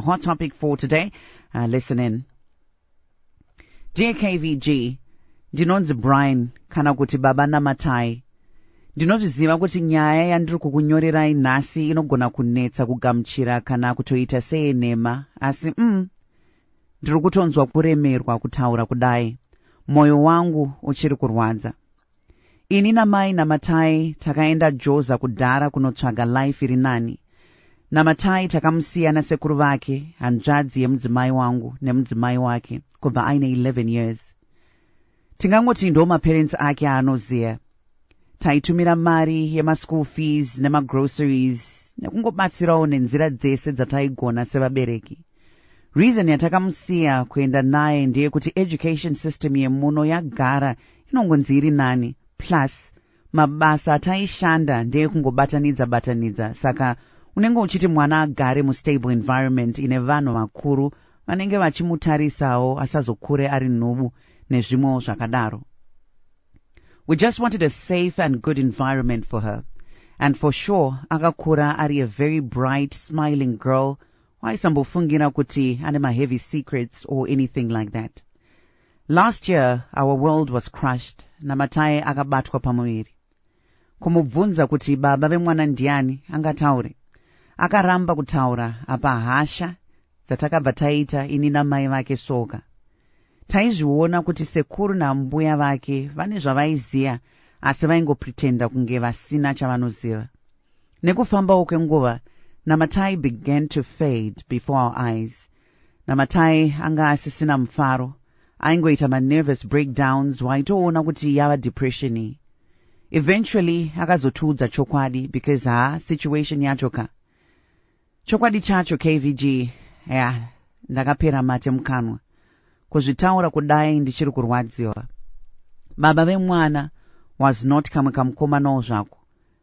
Hot topic for today. Uh, listen in. Dear KVG, ndinonzi Brian kana kuti Baba Namatai. Ndinozviziva kuti nyaya yandiri kukunyorerai nhasi inogona kunetsa kugamuchira kana kutoita seyenhema, asi mm, ndiri kutonzwa kuremerwa kutaura kudai. Moyo wangu uchiri kurwadza. Ini namai Namatai takaenda Joza kudhara kunotsvaga life iri nani. Namatai takamusiya nasekuru vake, hanzvadzi yemudzimai wangu nemudzimai wake kubva aine 11 years. Tingangoti ndo maparents ake aanoziva. Taitumira mari yemaschool fees nemagroceries nekungobatsirawo nenzira dzese dzataigona sevabereki. Reason yatakamusiya kuenda naye ndeyekuti education system yemuno yagara inongonzi iri nani plus mabasa ataishanda ndeyekungobatanidza batanidza saka unenge uchiti mwana agare mustable environment ine vanhu vakuru vanenge vachimutarisawo asazokure ari nhubu nezvimwewo zvakadaro we just wanted a safe and good environment for her and for sure akakura ari a very bright smiling girl waisambofungira kuti ane maheavy secrets or anything like that last year our world was crushed namatai akabatwa pamuviri kumubvunza kuti baba vemwana ndiani angataure akaramba kutaura apa hasha dzatakabva taita ini namai vake soka taizviona kuti sekuru naambuya vake vane zvavaiziva asi vaingopretenda kunge vasina chavanoziva Nekufambawo kwenguva, Namatai began to fade before our eyes. Namatai anga asisina mufaro. Aingoita manervous breakdowns waitoona kuti yava depression iyi. Eventually akazotiudza chokwadi because haa situation yacho ka. Chokwadi chacho KVG, yeah, ndakapera mate mukanwa. Kuzvitaura kudai ndichiri kurwadziwa. Baba vemwana was not kamwe kamukomanawo zvako.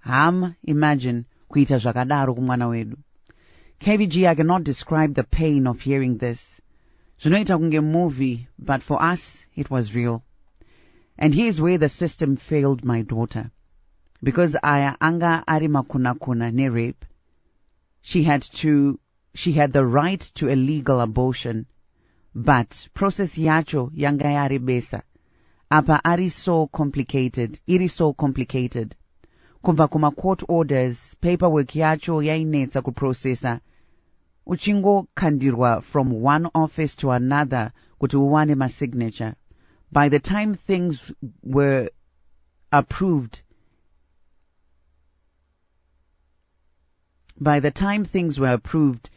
Hama, imagine kuita zvakadaro kumwana wedu. KBG, I cannot describe the pain of hearing this. Zvinoita kunge movie, but for us, it was real. And here's where the system failed my daughter. Because aya anga ari makunakuna nerape. She had to She had the right to a legal abortion but process yacho yanga yarebesa apa ari so complicated iri so complicated kubva kumacourt orders paperwork yacho yainetsa kuprocessa uchingokandirwa from one office to another kuti uwane masignature by the time things were approved By the time things were approved,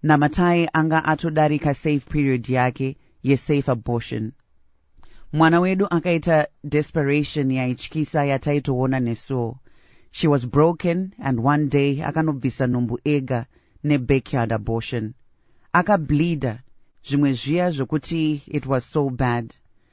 Namatai anga atodarika safe period yake yesafe abortion. Mwana wedu akaita desperation yaityisa yataitoona nesuwo. She was broken and one day akanobvisa nhumbu ega nebackyard abortion. Akableeder, zvimwe zviya zvekuti it was so bad.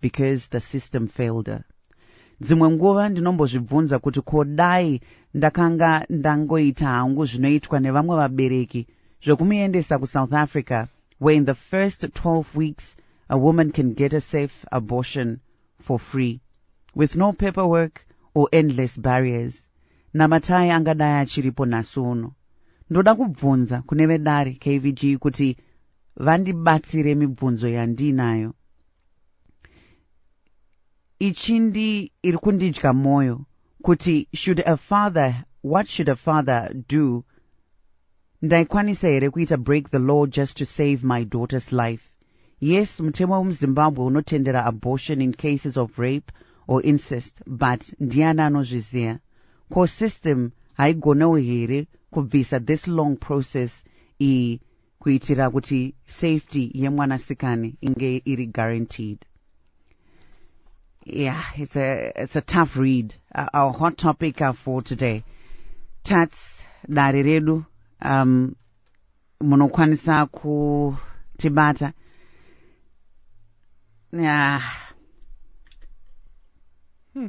because the system failed her dzimwe nguva ndinombozvibvunza kuti ko dai ndakanga ndangoita hangu zvinoitwa nevamwe vabereki zvekumuendesa kusouth africa where in the first 12 weeks a woman can get a safe abortion for free with no paperwork or endless barriers namatai angadai achiripo nhasi uno ndoda kubvunza kune vedare kvg kuti vandibatsire mibvunzo yandiinayo ichindi iri kundidya mwoyo kuti should a father what should a father do ndaikwanisa here kuita break the law just to save my daughter's life yes mutemo wemuzimbabwe unotendera abortion in cases of rape or incest but ndiani anozviziva ko system haigonewo here kubvisa this long process iyi kuitira kuti safety yemwanasikani inge iri guaranteed yeah it's a, it's a tough read uh, our hot topic uh, for today tats dare redu um, munokwanisa kutibata yeah. Hmm.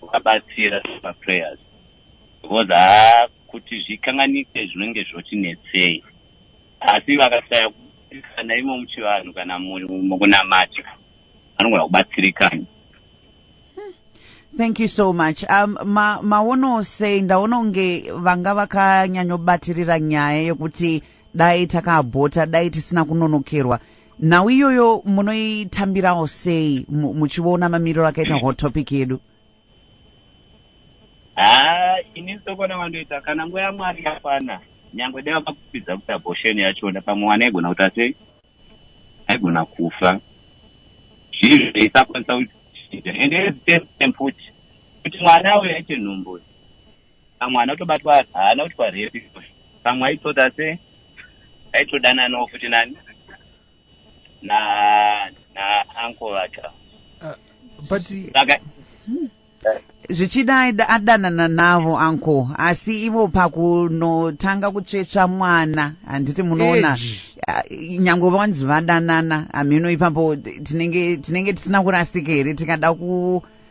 kuvabatsira pa prayers because haa kuti zvikanganike zvinenge zvotinetsei asi vakasaya kubatsirikana imo muchivanhu kana mukunamata vanogona kubatsirikana thank you so much um, ma, maono sei ndaona kunge vanga vakanyanyobatirira nyaya yekuti dai takabhota dai tisina kunonokerwa nhau iyoyo munoitambirawo sei mu- muchiona mamiriro akaita hot topic yedu haa ini sokona wandoita kana nguva yamwari yakwana nyangwe dai vakakupidza kuti abortion yachona pamwe mwana aigona kuita sei aigona kufa zvinhu zvaisakwanisa kuchinja ende at the same time futi kuti mwana auya aite nhumbu pamwe anotobatwa haana kuti kwarepi pamwe aitoda se aitodananawo futi nani na na uncle vacho uh, but saka hmm. zvichida adanana navo uncle asi ivo pakunotanga kutsvetsva mwana handiti munoona uh, nyange vanzi vadanana hamheno ipapo tinenge tinenge tisina kurasika here tikada ku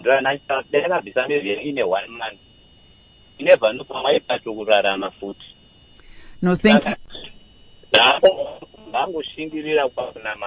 Ndranhanyana kudai akabvisa mbebvu yake ine one month you never know pamwe aipato kurarama futi No, thank you. Saka zvaako vangoshingirira kwakunamata